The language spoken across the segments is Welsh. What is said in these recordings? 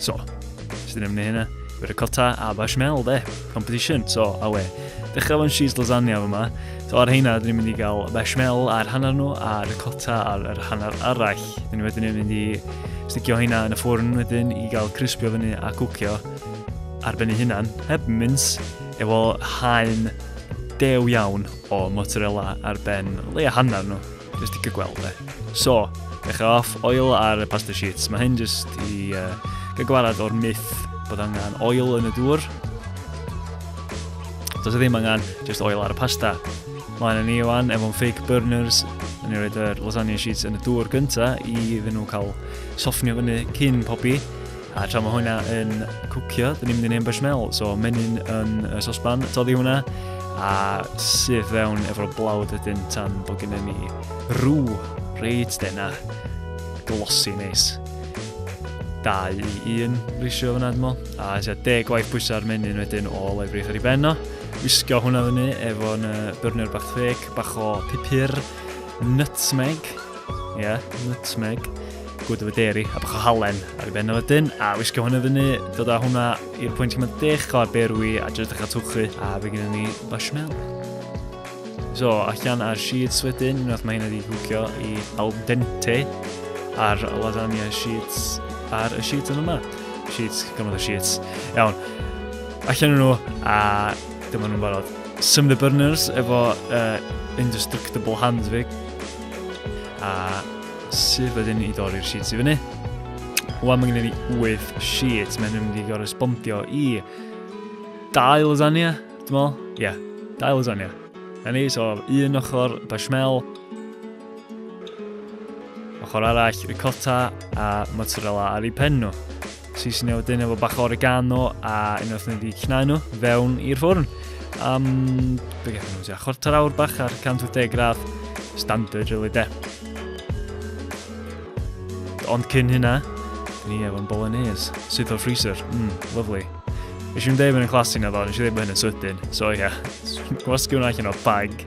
So, sydd ddim ni hynna. Ricotta a bashmel, de. Competition, so, awe. Dechrau fo'n cheese lasagna yma. So, ar heina, dyn ni'n mynd i gael bashmel ar hanner nhw a ricotta ar yr hanner arall. Dyn ni wedyn yn mynd i stigio heina yn y ffwrn wedyn i gael crispio fyny a cwcio ar ben ei hunan, heb mince, efo haen dew iawn o mozzarella ar ben leia hanner nhw. Nes ti gygweld e. So, dechrau off, oil ar y pasta sheets. Mae hyn jyst i uh, gygwarad o'r myth bod angen oil yn y dŵr. Does e ddim angen jyst oil ar y pasta. Mae'n ni o'n efo'n fake burners, yn ni roed yr lasagna sheets yn y dŵr gyntaf i iddyn nhw cael soffnio fyny cyn pobi. A tra mae hwnna yn cwcio, dyn ni'n mynd i neud beshmel. So, menyn yn y sosban, toddi hwnna, a syth fewn efo'r blawd wedyn tan bod gennym ni rw reit dena glosi neis. 2 i 1 risio fyna dymo, a tua deg gwaith bwysa'r menyn wedyn o lefrith ar ei ben o. Wisgo hwnna fyny efo'n uh, byrnio'r bach ffeg, bach o pupur, nutmeg, Ie, yeah, nutmeg. Gwyd efo deri, a bach o halen ar ei ben o wedyn, a wisgo hwnna fyny, dod â hwnna i'r pwynt yma dech o ar berwi, a jyst eich atwchu, a fe gyda ni basmel. So, allan ar sheets wedyn, unwaith mae hyn wedi hwcio i al dente ar lasagna sheets ar y sheet yn yma. Sheets, gymaint o sheets. Iawn, allan nhw, a dyma nhw'n barod. Some of the burners efo uh, indestructible hands fi, A sydd wedyn i dorri'r sheets i fyny. Wel, mae gen i 8 sheets, mae'n mynd i gorespondio i dau lasagna, dwi'n meddwl. Ie, yeah, dau lasagna. Na ni, so un ochr bashmel, ochr arall ricotta a mozzarella ar ei pen nhw. Seasonio wedyn efo bach o oregano a unwaith ni wedi cnau nhw fewn i'r ffwrn. Am, be gael nhw, chwarter awr bach ar 180 gradd, standard really de. Ond cyn hynna, ni efo'n bolognese, sydd o'r freezer, mm, lovely. Nes i'n dweud bod yn classy na ddo, nes i dweud bod hyn yn sydyn, so ie, yeah. gwasgu hwnna allan o bag.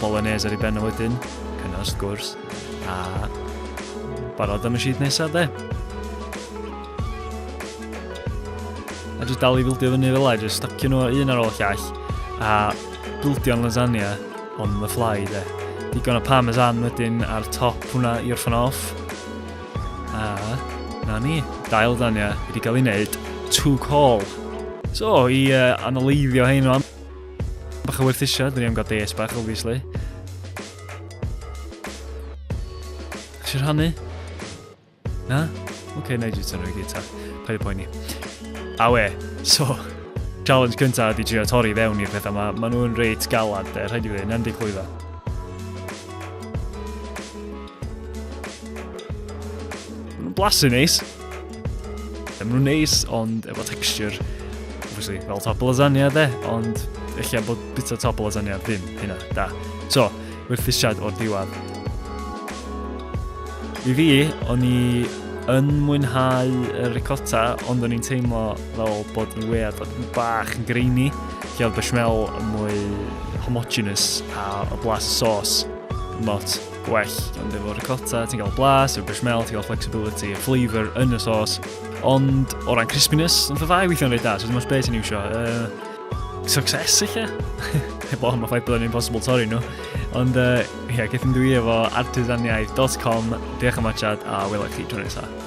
Bolognese ar ei ben o wedyn, cynna wrth gwrs, a barod am y sheet nesaf de. A jyst dal i fildio fyny fel la, jyst stacio nhw un ar ôl llall, a bildio'n lasagna on the fly de. Digon o parmesan wedyn ar top hwnna i orffan off. A na ni, dail lasagna wedi cael ei wneud to call. So, i uh, analyfio hyn o'n Bach o werthusiad, dyn ni am gael des bach, obviously. Chi rhannu? Na? Oce, okay, na i jyst yn rhoi gita. Paid y poeni. A we, so, challenge cyntaf ydi trio torri fewn i'r pethau yma. Maen nhw'n reit galad, de, rhaid i fi ddweud, endig clwydda. Blasu neis. Nice. Yn nhw'n neis, ond efo texture, obviously, fel top lasagna dde, ond eich bod bita top lasagna ddim hynna, da. So, werthusiad o'r diwad. I fi, o'n i yn mwynhau y ricotta, ond o'n i'n teimlo fel bod yn wead bach yn greini, lle oedd bechamel mwy homogenous a y blas y sauce, not gwell ond efo ricotta, ti'n cael blas, efo bushmel, ti'n cael flexibility, a flavour yn y sos. Ond o ran crispiness, ond y ddau weithio'n rhaid da, so dim ond beth ti'n iwsio. Uh, success eich e? Heb o'n mae ffaith bod yn impossible torri nhw. Ond uh, yeah, gethyn dwi efo artisaniaeth.com, diolch am achad a wylio chi tro nesaf.